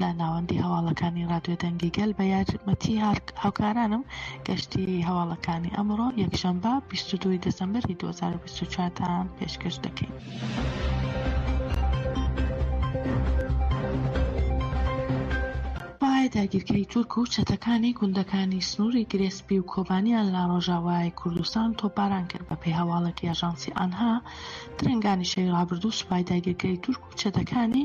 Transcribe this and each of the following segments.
لە ناوەندی هەواڵەکانی رادیۆ دەنگی گەل بە یارمەتی هاوکارانم گەشتی هەواڵەکانی ئەمڕۆ یەکشەمبە 22 دەسەمبەری 2024 تا پێشکەش دەکەین. داگیرکەری تورک و چەتەکانی گوندەکانی سنووری گرێسپی و کۆبانیان لە ڕۆژاوای کوردستان تۆپاران کرد بە پێی هەواڵێکی ئاژانسی ئانها درنگانی شەوی ڕابردوو سوپای داگیرکەری تورک و چەتەکانی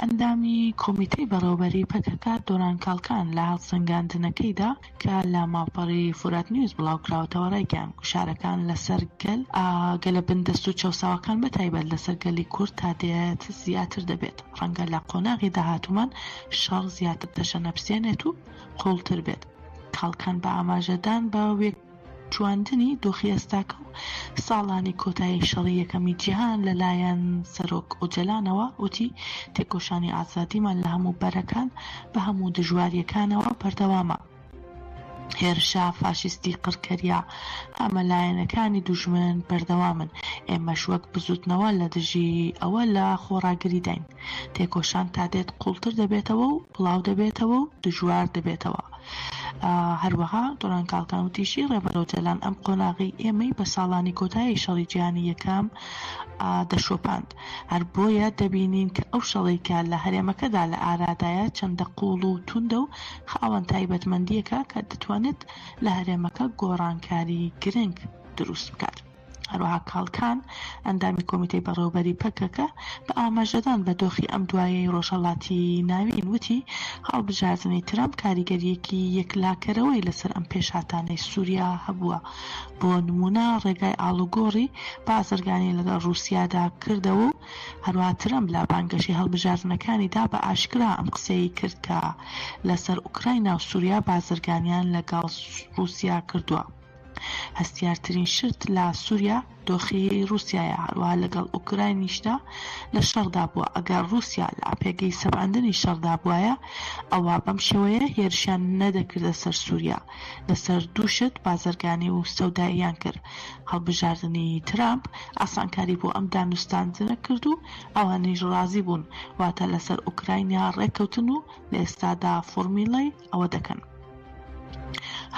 ئەندامی کۆمیتەی بەڕێوەبەریی پەکەکە، دۆران کاڵکان لە هەڵسەنگاندنەکەیدا کە لە ماڵپەڕی فوراتنیوز بڵاوکراوەتەوە رایگەیاند، گوشارەکان لەسەر گەل، گەلە بندەست و چەوساوەکان بەتایبەت لەسەر گەلی کورد تا دێت زیاتر دەبێت، رەنگە لە قۆناغی داهاتوومان شەڕ زیاتر تەشەنەپسێنێت و قووڵتر بێت. کاڵکان بە ئاماژەدان بە. چواندنی دۆخی ئێستاکە و ساڵانی کۆتایی شەڕی یەکەمی جیهان لە لایەن سەرۆک ئۆجەلانەوە وتی، تێکۆشانی ئازادیمان لە هەموو بەرەکان بە هەموو دژوارییەکانەوە بەردەوامە. هێرشە فاشیستی قڕکەرییە هەمەلایەنەکانی دوژمن بەردەوامن، ئێمەش وەک بزووتنەوە لە دژی ئەوە لە خۆڕاگریداین. تێکۆشان تا دێت قووڵتر دەبێتەوە و، بڵاو دەبێتەوە و دژوار دەبێتەوە. هەروەها دۆران کاڵکان وتیشی، ڕێبەر ئۆجالان ئەم قۆناغەی ئێمەی بە ساڵانی کۆتایی شەڕی جیهانی یەکەم دەشۆپاند، هەر بۆیە دەبینین کە ئەو شەڕەی کە لە هەرێمەکەدا لە ئارادایە چەندە قووڵ و توندە و خاوەن تایبەتمەندییەکە کە دەتوانێت لە هەرێمەکە گۆڕانکاری گرنگ دروست بکات. هەروەها کاڵکان، ئەندامی کۆمیتەی بەڕێوەبەری پەکەکە، بە ئاماژەدان بە دۆخی ئەم دوایەی ڕۆژهەڵاتی ناوین وتی، هەڵبژاردنی ترەمپ کاریگەرییەکی یەکلاکەرەوەی لەسەر ئەم پێشهاتانەی سووریا هەبووە، بۆ نموونە ڕێگای ئاڵوگۆڕی بازرگانی لەگەڵ ڕووسیادا کردەوە و هەروەها ترەمپ لە بانگەشەی هەڵبژاردنەکانیدا بە ئاشکرا ئەم قسەیەی کرد کە لەسەر ئۆکراینا و سووریا بازرگانیان لەگەڵ ڕووسیا کردووە. هەستیارترین شت لە سوریا دۆخی ڕوسیایە هەروەها لەگەڵ ئۆکراینیشدا لە شەڕدا بووە ئەگەر ڕوسیا لە پێگەی سەپاندنی شەڕدا بوایە ئەوا بەم شێوەیە هێرشیان نەدەکردە سەر سوریا لەسەر دوو شت بازرگانی و سەوداییان کرد هەڵبژاردنی ترامپ ئاسانکاری بۆ ئەم دانوستاندنە کرد و ئەوانیش ڕازی بوون واتە لەسەر ئۆکراینیا ڕێککەوتن و لە ئێستادا فۆرمیلەی ئەوە دەکەن.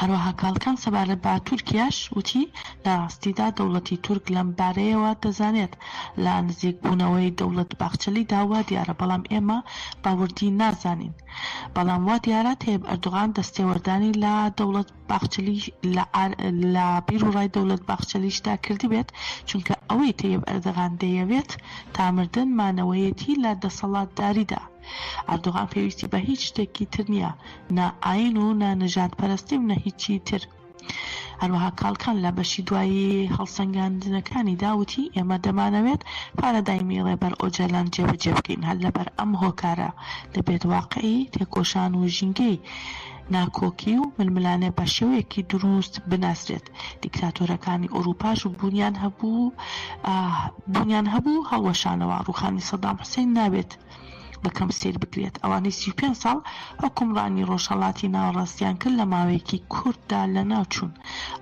هەروەها کاڵکان سەبارەت بە تورکیاش وتی، لە ڕاستیدا دەوڵەتی تورک لەم بارەیەوە دەزانێت لە نزیکبوونەوەی دەوڵەت باخچەلیدا وا دیارە بەڵام ئێمە بە وردی نازانین بەڵام وا دیارە تەیب ئەردوغان دەستێوەردانی لە دەوڵەت باخچەلی لە بیروڕای دەوڵەت باخچەلیشدا کردبێت چونکە ئەوەی تەیب ئەردەغان دەیەوێت تا مردن مانەوەیەتی لە دەسەڵاتداریدا. ئەردۆغان پێویستی بە هیچ شتێکی تر نییە نە ئاین و نە نەژاد پەرەستی و نە هیچی تر. هەروەها کاڵکان لە بەشی دوایی هەڵسەنگاندنەکانیدا وتی ئێمە دەمانەوێت پارادایمی ڕێبەر ئۆجالان جێبەجێ بکەین هەر لەبەر ئەم هۆکارە دەبێت واقعی تێکۆشان و ژینگەی ناکۆکی و ململانێ بە شێوەیەکی دروست بناسرێت دیکتاتۆرەکانی ئۆرووپاش بوونیان هەبوو بوونیان هەبوو هەڵوەشانەوە ڕووخانی سەدام حوسێن نابێت بە کەم سەیر بکرێت ئەوانەی سی و پێنج ساڵ حوکمڕانی ڕۆژهەڵاتی ناوەڕاستیان کرد لە ماوەیەکی کورتدا لەناو چوون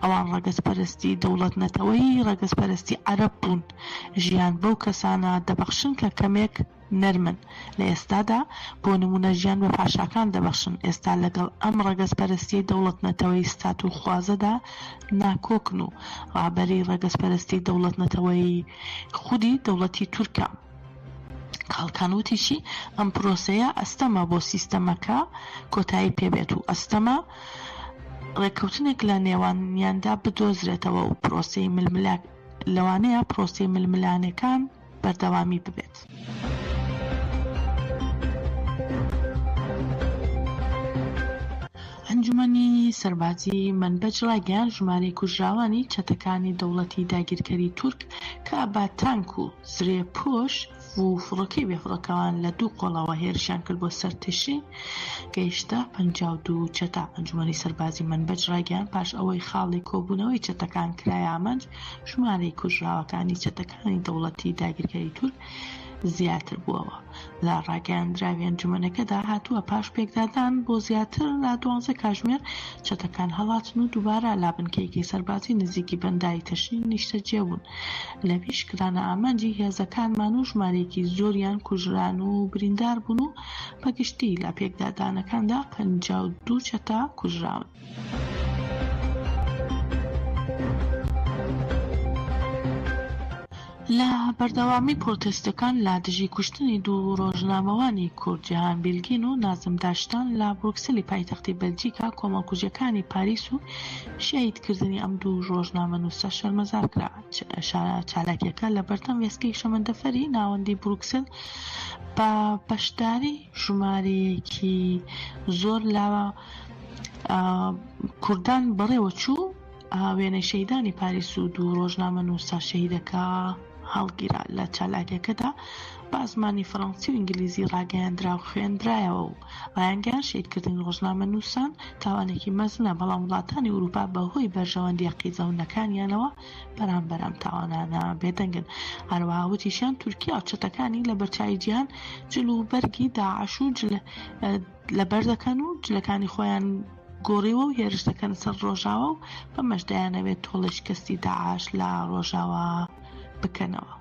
ئەوان ڕەگەزپەرستی دەوڵەت نەتەوەیی ڕەگەزپەرستی عەرەب بوون ژیان بەو کەسانە دەبەخشن کە کەمێک نەرمن لە ئێستادا بۆ نموونە ژیان بە پاشاکان دەبەخشن ئێستا لەگەڵ ئەم ڕەگەزپەرستی دەوڵەت نەتەوەی ستاتوخوازەدا ناکۆکن و ڕابەری ڕەگەزپەرستی دەوڵەت نەتەوەیی خودی دەوڵەتی تورکە. کاڵکان وتیشی، ئەم پرۆسەیە ئەستەمە بۆ سیستەمەکە کۆتایی پێبێت و ئەستەمە ڕێککەوتنێک لە نێوانیاندا بدۆزرێتەوە و پرۆسەی ململانێ لەوانەیە پرۆسەی ململانێکان بەردەوامی ببێت. ئەنجومەنی سەربازی مەنبەج ڕایگەیاند، ژمارەی کوژراوانی چەتەکانی دەوڵەتی داگیرکەری تورک کە بە تانک و زرێپۆش و فڕۆکەی بێفڕۆکەوان لە دوو قۆڵەوە هێرشیان کرد بۆ سەر تشرین گەیشتە پەنج و دوو چەتە ئەنجومەنی سەربازی منبەج ڕایگەیان پاش ئەوەی خاڵی کۆبوونەوەی چەتەکان کرایە ئامانج ژمارەی کوژراوەکانی چەتەکانی دەوڵەتی داگیرکەری تورک زیاتر بووەوە لە ڕاگەیاندراوی ئەنجومەنەکەدا هاتووە، پاش پێکدادان بۆ زیاتر لە دوانزە کاژمێر، چەتەکان هەڵاتن و دووبارە لا بنکەیەکی سەربازی نزیکی بەنداوی تەشرین نیشتەجێ بوون، لەویش کرانە ئامانجی هێزەکانمان و ژمارەیەکی زۆریان کوژران و بریندار بوون و بە گشتی لە پێکدادانەکاندا پەنجا و دوو چەتە کوژراون. لە بەردەوامی پرۆتێستەکان لە دژی کوشتنی دوو رۆژنامەوانی کورد جیهان بیلگین و نازم داشتان لە بروکسلی پایتەختی بەلجیکا کۆمەڵکوژیەکانی پاریس و شەهیدکردنی ئەم دوو رۆژنامەنوسە شەرمەزار کرا چالاکیەکە لە بەردەم وێستگەی شەمەندەفەری ناوەندی بروکسل بە بەشداری ژمارەیەکی زۆر لە کوردان بەڕێوە چوو وێنەی شەیدانی پاریس و دوو ڕۆژنامە نووسە شەیدەکە هەڵگیرا لە چالاکیەکەدا بە زمانی فەڕەنسی و ئینگلیزی ڕاگەیاندرا و خوێندرایەوە و ڕایانگەیان شیدکردنی ڕۆژنامە نووسان تاوانێکی مەزنە بەڵام وڵاتانی وروپا بەهۆی بەرژەوەندیە قیزەونەکانیانەوە بەرامبەرم تاوانانە بێدەنگن هەروەها وتیشیان تورکیا و چەتەکانی لە بەرچوی جیان جل و بەرگی داعش و جل لەبەر دەکەن و جلەکانی خۆیان گۆڕیوە و هێرش دەکەن سەر ڕۆژاوە و بەمەش دەیانەوێت تۆڵەی شکستی داعش لە ڕۆژاوە بکەنەوە.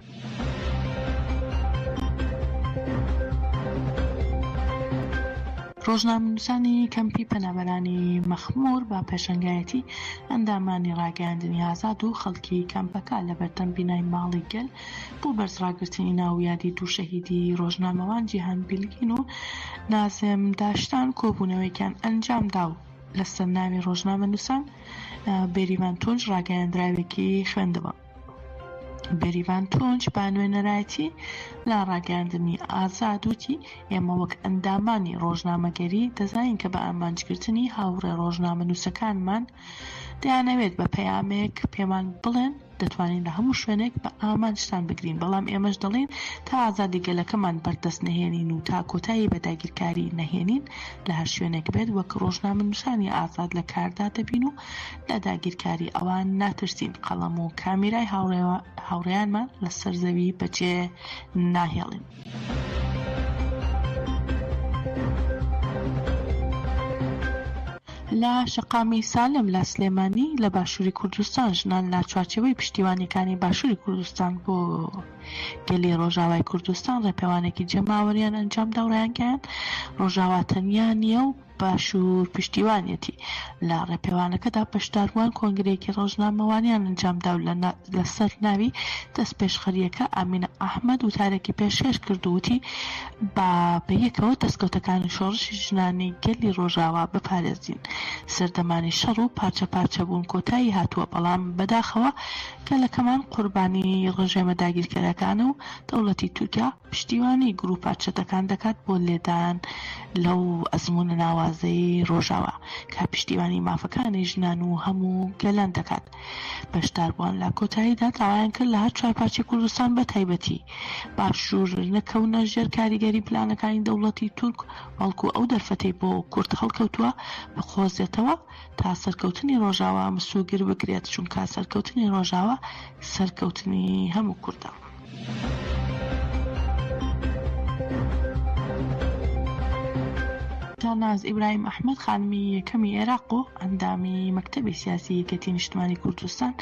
ڕۆژنامەنووسانی کەمپی پەنابەرانی مەخمور بە پێشەنگایەتی ئەندامانی ڕاگەیاندنی ئازاد و خەڵکی کەمپەکە لەبەردەم بینای ماڵی گەل بۆ بەرز ڕاگرتنی ناو و یادی دوو شەهیدی ڕۆژنامەوان جیهان بیلگین و نازم داشتان کۆبوونەوەیەکیان ئەنجامدا و لەسەر ناوی ڕۆژنامەنووسان بێریڤان تونج ڕاگەیاندراوێکی خوێندەوە. بێریڤان تونج بە نوێنەرایەتی لە ڕاگەیاندنی ئازاد وتی ئێمە وەک ئەندامانی ڕۆژنامەگەری دەزانین کە بە ئامانجگرتنی هاوڕێ ڕۆژنامەنووسەکانمان دەیانەوێت بە پەیامێک پێمان بڵێن دەتوانین لە هەموو شوێنێک بە ئامانجتان بگرین، بەڵام ئێمەش دەڵێین تا ئازادی گەلەکەمان بەردەست نەهێنین و تا کۆتایی بە داگیرکاری نەهێنین لە هەر شوێنێک بێت وەک ڕۆژنامەنووسانی ئازاد لە کاردا دەبین و لە داگیرکاری ئەوان ناترسین، قەڵەم و کامیرای هاوڕێیانمان لەسەر زەوی بەجێ ناهێڵین. لە شەقامی سالم لە سلێمانی لە باشووری کوردستان ژنان لە چوارچێوەی پشتیوانیەکانی باشووری کوردستان بۆ گەلی ڕۆژاوای کوردستان ڕێپێوانێکی جەماوەریان ئەنجامدا و ڕایانگەیان ڕۆژاوا تەنیا نییە و باشوور پشتیوانیەتی لە ڕێپێوانەکەدا بەشداربووان کۆنگرەیەکی ڕۆژنامەوانیان ئەنجامدا و لەسەر ناوی دەستپێشخەرییەکە ئامینە ئەحمەد وتارێکی پێشکەش کرد و وتی با بەیەکەوە دەستکەوتەکانی شۆڕشی ژنانی گەلی ڕۆژاوا بپارێزین سەردەمانی شەڕ و پارچە پارچە بوون کۆتایی هاتووە بەڵام بەداخەوە گەلەکەمان قوربانی ڕژێمە داگیرکەرەکانە و دەوڵەتی تورکیا پشتیوانی گروپە چەتەکان دەکات بۆ لێدان لەو ئەزمونە ناوازەی ڕۆژاوا کە پشتیوانی مافەکانی ژنان و هەموو گەلان دەکات بەشداربووان لە کۆتاییدا داوایان کرد لە هەر چوار پارچەی کوردستان بە تایبەتی باشوور نەکەونە ژێر کاریگەری پلانەکانی دەوڵەتی تورک بەڵکو ئەو دەرفەتەی بۆ کورد هەڵکەوتووە بقۆزێتەوە تا سەرکەوتنی ڕۆژاوا مسوگر بگرێت چونکە سەرکەوتنی ڕۆژاوا سەرکەوتنی هەموو کوردە. تاناز ئیبراهیم ئەحمەد خانمی یەکەمی عێراق و ئەندامی مەکتەبی سیاسی یەکێتی نیشتمانی کوردستان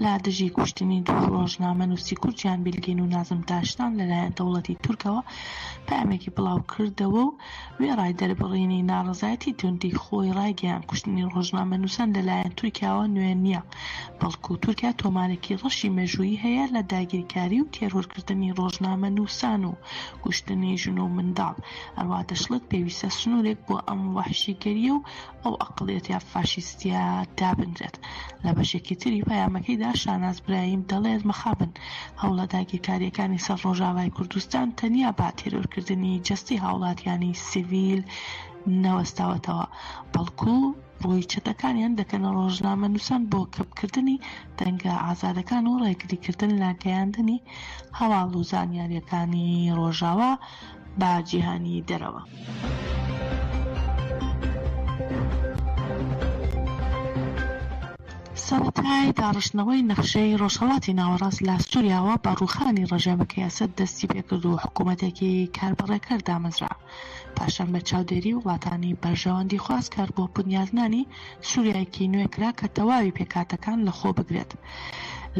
لە دژی کوشتنی دوو ڕۆژنامە نووسی کورد جیان بیلگین و نازم داشتان لەلایەن دەوڵەتی تورکەوە پامێکی بڵاو کردەوە و وێڕای دەربڕینی ناڕەزایەتی توندی خۆی ڕایگەیاند کوشتنی ڕۆژنامەنووسان لەلایەن تورکیاوە نوێ نییە، بەڵکو تورکیا تۆمارێکی ڕەشی مێژوویی هەیە لە داگیرکاری و تێرۆرکردنی ڕۆژنامەنووسان و کوشتنی ژن و منداڵ، هەروەها دەشڵێت پێویستە سنوورێک بۆ ئەم وەحشیگەرییە و ئەو ئەقڵیەتە فاشیستیە دابنرێت. لە بەشێکی تری پەیامەکەیدا شاناز برایم دەڵێت مەخابن هەوڵە داگیرکارییەکانی سەر ڕۆژاڤای کوردستان تەنیا بە تێرۆرکردنی جەستەی هاوڵاتیانی سیڤیل نەوەستاوەتەوە، بەڵکو ڕووی چەتەکانیان دەکەنە ڕۆژنامەنووسان بۆ کپکردنی دەنگە ئازادەکان و ڕێگریکردن لە گەیاندنی هەواڵ و زانیارییەکانی ڕۆژاوا بە جیهانی دەرەوە. سەرەتای داڕشتنەوەی نەخشەی ڕۆژهەڵاتی ناوەڕاست لە سوریاوە بە ڕووخانی ڕژێمەکەی ئەسەد دەستی پێکرد و حکوومەتێکی کاربەڕێکەر دامەزرا، پاشان بە چاودێری وڵاتانی بەرژەوەندیخواز کار بۆ بنیادنانی سوریایەکی نوێ کرا کە تەواوی پێکهاتەکان لە خۆ بگرێت.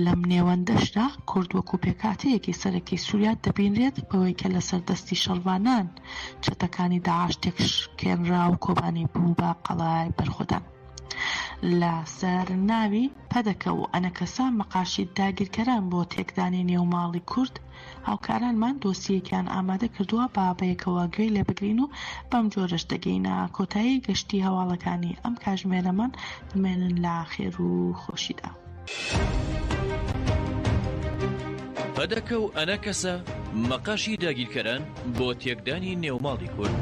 لەم نێوەندەشدا کورد وەکوو پێکهاتەیەکی سەرەکی سوریا دەبینرێت، بەوەی کە لەسەر دەستی شەڕڤانان چەتەکانی داعش تێکشکێنرا و کۆبانی بوو بە قەڵای بەرخۆدان لە سەر ناوی پەدەکە و ئەنەکەسە، مەقاشی داگیرکەران بۆ تێکدانی نێو ماڵی کورد، هاوکارانمان دۆسیەیەکیان ئامادە کردووە با بەیەکەوە گوێی لێ بگرین و بەم جۆرەش دەگەینە کۆتایی گەشتی هەواڵەکانی ئەم کاژمێرەمان بمێنن لە خێر و خۆشیدا. پەدەکە و ئەنەکەسە مەقەشی داگیرکەران بۆ تێکدانی نێوماڵی کورد.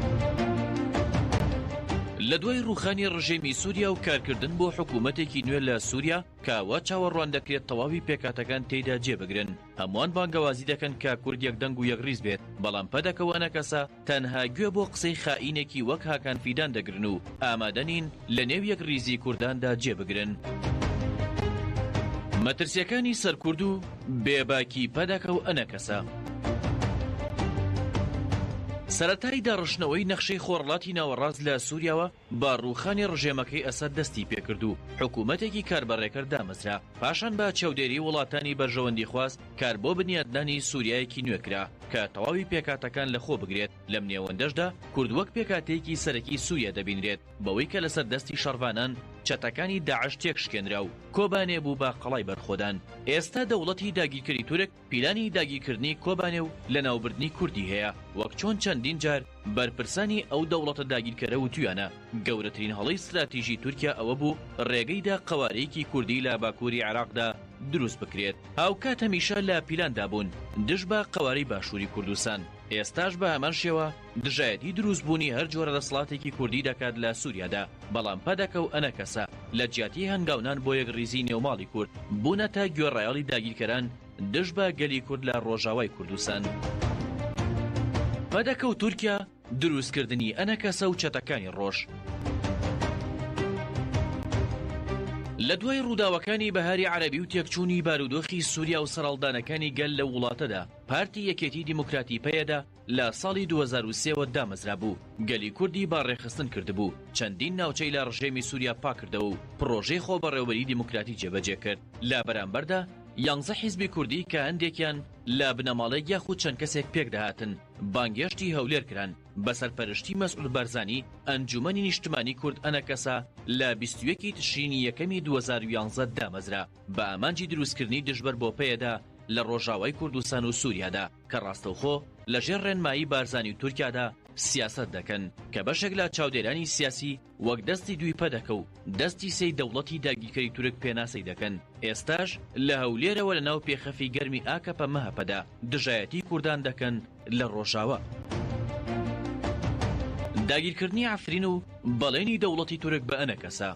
لە دوای ڕوخانی ڕژێمی سووریا و کارکردن بۆ حکوومەتێکی نوێ لە سووریا کاوا چاوەڕوان دەکرێت تەواوی پێکاتەکان تێیدا جێبگرن هەموان بانگەوازی دەکەن کە کورد یەک دەنگ و یەک ڕیز بێت، بەڵام پەدەکە و ئەنەکەسە تەنها گوێ بۆ قسەی خائینێکی وەک هاکان فیدان دەگرن و ئامادە نین لە نێو یەک ڕیزی کورداندا جێ بگرن. مەترسیەکانی سەر کورد و بێ باکی پەدەکە و ئەنەکەسە. سەرەتای داڕشتنەوەی نەخشەی خۆرەڵاتی ناوەڕاست لە سوریاوە، بە ڕووخانی ڕژێمەکەی ئەسەد دەستی پێکرد و حکوومەتێکی کار بە ڕێکەر دامەزرا، پاشان بە چەودێریی وڵاتانی بەرژەوەندیخواز کار بۆ بنیاتنانی سووریایەکی نوێ کرا کە تەواوی پێکهاتەکان لەخۆ بگرێت، لەم نێوەندەشدا کورد وەک پێکهاتەیەکی سەرەکی سووریا دەبینرێت بەوەی کە لەسەر دەستی شەڕڤانان چەتەکانی داعش تێکشکێنرا و کۆبانێ بوو بە قەڵای بەرخۆدان. ئێستا دەوڵەتی داگیرکەری تورک پیلانی داگیرکردنی کۆبانێ و لەناوبردنی کوردی هەیە، وەک چۆن چەندین جار بەرپرسانی ئەو دەوڵەتە داگیرکەرە وتویانە، گەورەترین هەڵەی ستراتیژی تورکیا ئەوە بوو ڕێگەی دا قەوارەیەکی کوردی لە باکووری عێراقدا دروست بکرێت، هاوکات هەمیشە لە پیلاندا بوون دژ بە قەوارەی باشووری کوردستان، ئێستاش بە هەمان شێوە. دژایەتی دروست بوونی هەر جۆرە دەسڵاتێکی کوردی دەکات لە سوریادا، بەڵام پەدەکە و ئەنەکەسە لە جیاتی هەنگاونان بۆ یەکڕیزی نێو ماڵی کورد، بوونەتە گوێڕایەڵی داگیرکەران دژ بە گەلی کورد لە ڕۆژاوای کوردستان. پەدەکە و تورکیا، دروست کردنی ئەنەکەسە و چەتەکانی ڕۆژ. لە دوای ڕووداوەکانی بەهاری عەرەبی و تێکچوونی بارودۆخی سوریا و سەرەڵدانەکانی گەل لەو وڵاتەدا، پارتی یەکێتی دیموکراتی پەیەدە، لە ساڵی دوو هەزار و سێ وە دامەزرابوو، گەلی کوردی بە ڕێکخستن کردبوو، چەندین ناوچەی لە ڕژێمی سووریا پاککردەوە و پڕۆژەی خۆبەڕێوەبەریی دیموکراتی جێبەجێ کرد. لە بەرامبەردا یانزە حیزبی کوردی کە هەندێکیان لە بنەماڵەیەک یاخود چەند کەسێک پێکدەهاتن، بانگێشتی هەولێر کران، بە سەرپەرشتی مەسعود بارزانی، ئەنجوومەنی نیشتمانی کورد ئەنەکەسە لە بیست و یەک ی تشرینی یەکەمی دوو هەزار و یانزە دامەزرا، بە ئامانجی دروستکردنی دژبەر بۆ پەیەدە لە ڕۆژاوای کوردستان و سووریادا. کە ڕاستەوخۆ لە ژێر ڕێنمایی بارزانی و تورکیادا سیاسەت دەکەن، کە بەشێک لە چاودێرانی سیاسی وەک دەستی دووی پەدەکە و دەستی سێی دەوڵەتی داگیرکەری تورک پێناسەی دەکەن، ئێستاش لە هەولێرەوە لە ناو پێخەفی گەرمی ئاکەپە-مەهەپەدا دژایەتی کوردان دەکەن لە ڕۆژاوا. داگیرکردنی عەفرین و بەڵێنی دەوڵەتی تورک بە ئەنەکەسە.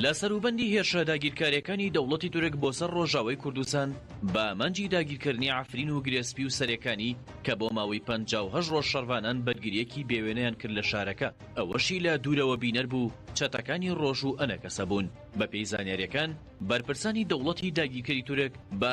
لە سەروبەندی هێرشە داگیرکاریەکانی دەوڵەتی تورک بۆ سەر ڕۆژاوای کوردستان بە ئامانجی داگیرکردنی عەفرین و گرێ سپی و سەرێکانی کە بۆ ماوەی پەنجا و هەشت ڕۆژ شەڕڤانان بەرگریەکی بێوێنەیان کرد لە شارەکە ئەوەشی لە دوورەوە بینەر بوو چەتەکانی ڕۆژ و ئەنەکەسە بوون بەپێی زانیاریەکان بەرپرسانی دەوڵەتی داگیرکەری تورک بە